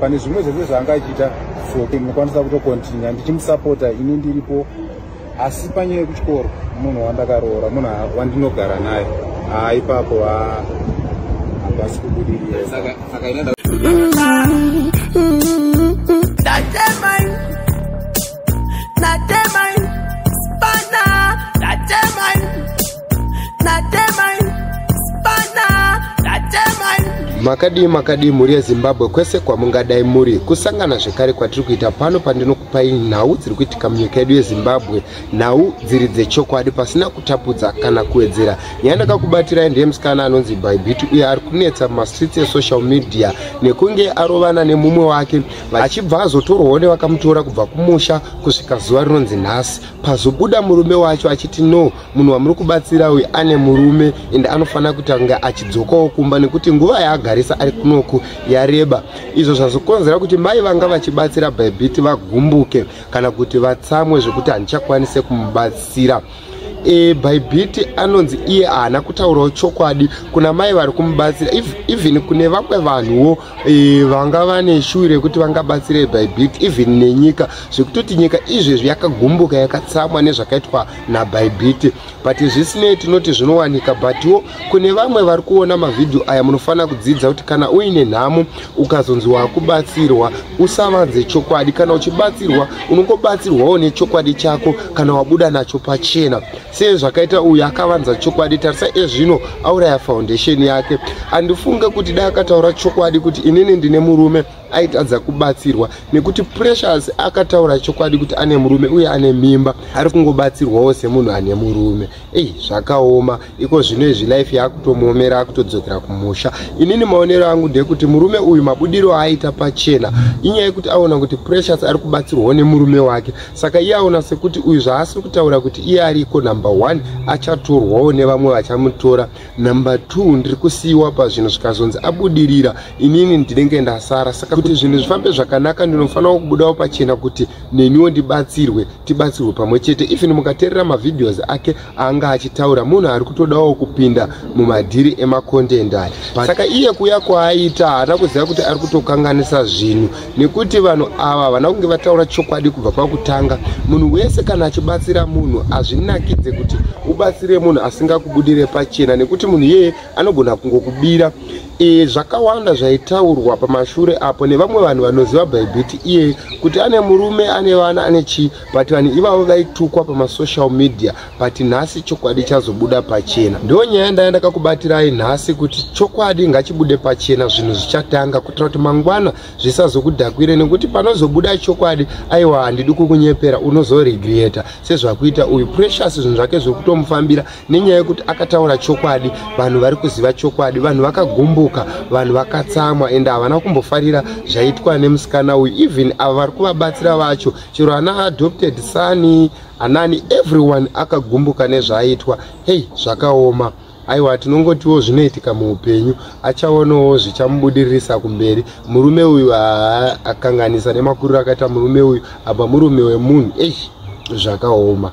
pane zvimwe zvese zvaanga achiita so ndinokwanisa kutokontinua ndichimusapota ini ndiripo asi panyaya yekuchikoro munhu wandakaroora munhu wandinogara naye haa ipapo hapasi kubudirira makadii makadii mhuri yezimbabwe kwese kwamungadai muri kusangana zvekare kwatiri kuita pano pandinokupai nhau dziri kuitika munyika yedu yezimbabwe nhau dziri dzechokwadi pasina kutapudza kana kuwedzera nyaya ndakakubatirai ndiye musikana anonzi bybit uye ari kunetsa mumastreets esocial media nekunge arovana nemumwe wake achibva azotorwawo nevakamutora kubva kumusha kusvika zuva rinonzi nhasi pazobuda murume wacho achiti no munhu wamuri kubatsira uyu ane murume and anofanira kutanga achidzokawo kumba nekuti nguva yaagarisa ari kunoku yareba izvo zvazokonzera kuti mai vanga vachibatsira bybit vagumbuke kana kuti vatsamwe zvekuti handichakwanise kumubatsira e, bhaibhiti anonzi iye haana kutaurawo chokwadi kuna mai vari kumubatsira even kune vamwe vanhuwo e, vanga vane shuwi rekuti vangabatsirei bhaibhiti even nenyika zvekutoti nyika izvezvi yakagumbuka yakatsamwa nezvakaitwa nabhaibhiti but zvisinei tinoti zvinowanika butwo kune vamwe vari kuona mavhidhiyo aya munofanira kudzidza kuti kana uine nhamo ukazonzi wakubatsirwa usavanze chokwadi kana uchibatsirwa unongobatsirwawo nechokwadi chako kana wabuda nacho pachena sei zvakaita uyu akavanza chokwadi tarisa ezvino auraya foundation yake handifunge kuti dai akataura chokwadi kuti inini ndine murume aitadza kubatsirwa nekuti precious akataura chokwadi kuti ane murume uye ane mimba ari kungobatsirwawo semunhu ane murume ei zvakaoma iko zvino izvi life yaakutomuomera akutodzokera kumusha inini maonero angu ndekuti murume uyu mabudiro aaita pachena inyaya yekuti aona kuti precious ari kubatsirwawo nemurume wake saka iye aona sekuti uyu zvaasiri kutaura kuti iye ariko number one achatorwawo nevamwe vachamutora number two ndiri kusiyiwa pazvinhu zvikazonzi abudirira inini ndinenge ndasara saka kuti zvinhu zvifambe zvakanaka ndinofanirawo kubudawo pachena kuti neniwo ndibatsirwe tibatsirwe pamwe chete even mukateerera mavhidhios ake anga achitaura munhu ari kutodawo kupinda mumadhiri emacontent aya saka iye kuya kwaaita haana kuziva kuti ari kutokanganisa zvinhu nekuti vanhu ava havana kunge vataura chokwadi kubva pakutanga munhu wese kana achibatsira munhu hazvinakidze kuti ubatsire munhu asingakubudire pachena nekuti munhu iyeye anogona kungokubira e, zvakawanda zvaitaurwa pamashure apo nevamwe vanhu vanoziva bhaibhiti iyeye kuti ane murume ane vana ane chii but vanhu ivavo vaitukwa pamasocial media but nhasi chokwadi chazobuda pachena ndo nyaya yandaya ndakakubatirai nhasi kuti chokwadi ngachibude pachena zvinhu zvichatanga kuitira kuti mangwana zvisazokudhakwire nekuti panozobuda chokwadi aiwa handidi kukunyepera unozoregreta sezvakuita uyu precious zvinhu zvake zviri kutomufambira nenyaya yekuti akataura chokwadi vanhu vari kuziva chokwadi vanhu vakagumbuka vanhu vakatsamwa ende havana kumbofarira zvaitwa nemusikana uyu even ava vari kuvabatsira vacho chero ana adopted sani uh, Anani everyone akagumbuka nezvaaitwa hey zvakaoma aiwa tinongotiwo zvinoitika muupenyu achaonawo zvichamubudiririsa kumberi murume uyu akanganisa nemakuriro akaita murume uyu apa murume wemunhu ei zvakaoma